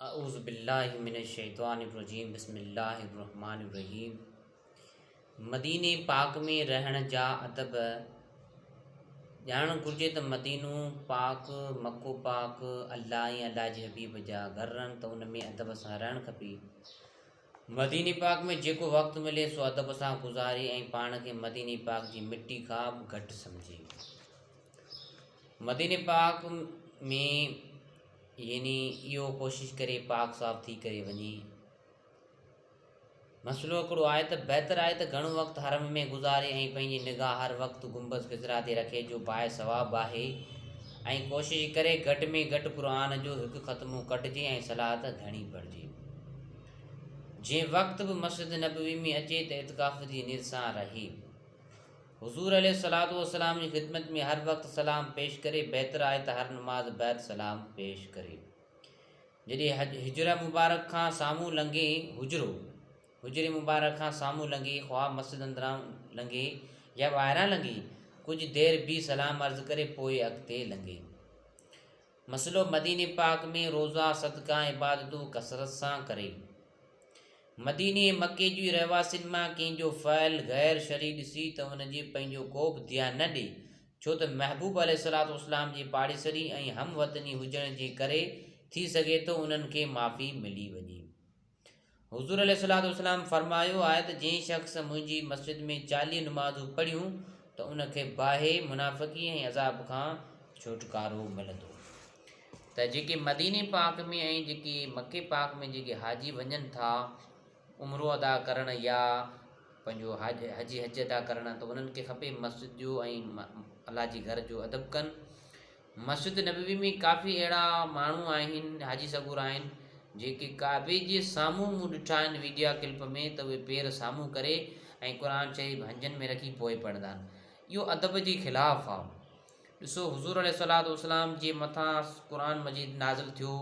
اعوذ باللہ من الشیطان الرجیم بسم الله الرحمن الرحيم مديني پاڪ ۾ رهڻ جا ادب ڄاڻڻ گهرجي ته مدينو پاڪ مڪو پاڪ الله ۽ الله جي حبيب جا گهر رهن ته ان ۾ ادب سان رهڻ کپي مديني پاڪ ۾ جيڪو وقت ملي سو ادب سان گذاري ۽ پاڻ کي مديني پاڪ جي مٽي کان به گهٽ سمجهي مديني پاڪ ۾ يعني اهو ڪوشش ڪري پاڪ صاف ٿي ڪري وڃي. مسئلو هڪڙو آهي ته بهتر آهي ته گهڻو وقت حرم ۾ گذاري ۽ پنهنجي نگاهه هر وقت گنبذ خضرا تي رکي جو باء ثواب آهي ۽ ڪوشش ڪري گهٽ ۾ گهٽ قرآن جو هڪ ختمو ڪڍجي ۽ صلات گهڻي پڙهجي. جي وقت به مسجد نبوي ۾ اچي ته اعتڪاف جي نيت سان رهي. حضور عليه الصلوة والسلام جي خدمت ۾ هر وقت سلام پيش ڪري، بهتر آهي ته هر نماز بعد سلام پيش ڪري. جڏهن حج حجره مبارڪ کان سامهون لنگهي، حجرو، حجري مبارڪ کان سامهون لنگهي، خواه مسجد اندران لنگهي يا ٻاهران لنگهي، ڪجهه دير بيهي سلام عرض ڪري پوء اڳتي لنگهي. مسئلو مديني پاڪ ۾ روزا، صدقا، عبادتون ڪثرت سان ڪري. مديني ۽ مڪي جي رهواسين مان ڪنهن جو فعل غير شرعي ڏسي ته ان جي پنهنجو ڪوبه ڌيان نه ڏي ڇو ته محبوب عليه الصلوة والسلام جي پاڙيسري ۽ هم وطني هجڻ جي ڪري ٿي سگهي ٿو انهن کي معافي ملي وڃي. حضور عليه الصلوة والسلام فرمايو آهي ته جنهن شخص منهنجي مسجد ۾ چاليهه نمازون پڙهيون ته ان کي باهي، منافقي ۽ عذاب کان ڇوٽڪارو ملندو. ته جيڪي مديني پاڪ ۾ ۽ جيڪي مڪي پاڪ ۾ جيڪي حاجي وڃن ٿا عمرو ادا ڪرڻ يا پنهنجو حجي حج ادا ڪرڻ ته انهن کي کپي مسجد جو ۽ الله جي گهر جو ادب ڪن مسجد نبوي ۾ ڪافي اهڙا ماڻهو آهن حاجي سڳور آهن جيڪي ڪعبي جي سامهون مون ڏٺا آهن ويڊيا ڪلپ ۾ ته اهي پير سامهون ڪري ۽ قرآن شريف هنجن ۾ رکي پوء پڙهندا آهن اهو ادب جي خلاف آهي ڏسو حضور عليه الصلوة والسلام جي مٿان قرآن مجيد نازل ٿيو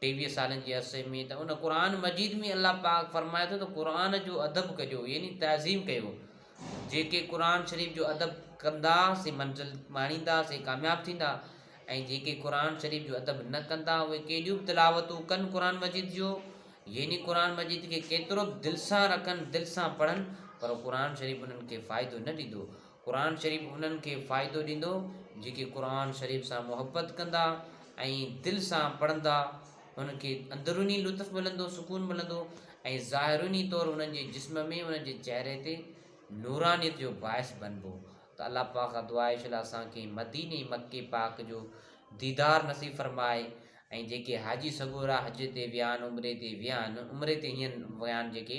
ٽيويهه سالن جي عرصي ۾ ته ان قرآن مجيد ۾ الله پاڪ فرمائي ٿو ته قرآن جو ادب ڪجو يعني تعظيم ڪيو جيڪي قرآن شريف جو ادب ڪندا سي منزل ماڻيندا سي ڪامياب ٿيندا ۽ جيڪي قرآن شريف جو ادب نه ڪندا اهي ڪيڏيون به تلاوتون ڪن قرآن مجيد جو يعني قرآن مجيد کي ڪيترو به دل سان رکن دل سان پڙهن پر قرآن شريف انهن کي فائدو نه ڏيندو قرآن شريف انهن کي فائدو ڏيندو جيڪي قرآن شريف سان محبت ڪندا ۽ دل سان پڙهندا انهن کي اندروني لطف ملندو سڪون ملندو ۽ ظاهروني طور انهن جي جسم ۾ انهن جي چهري تي نورانيت جو باعث بنبو ته الله پاڪ کان دعا آهي شلا اسان کي مديني مڪي پاڪ جو ديدار نصيب فرمائي ۽ جيڪي حاجي سڳورا حج تي ويا آهن عمري تي ويا آهن عمري تي هين ويا آهن جيڪي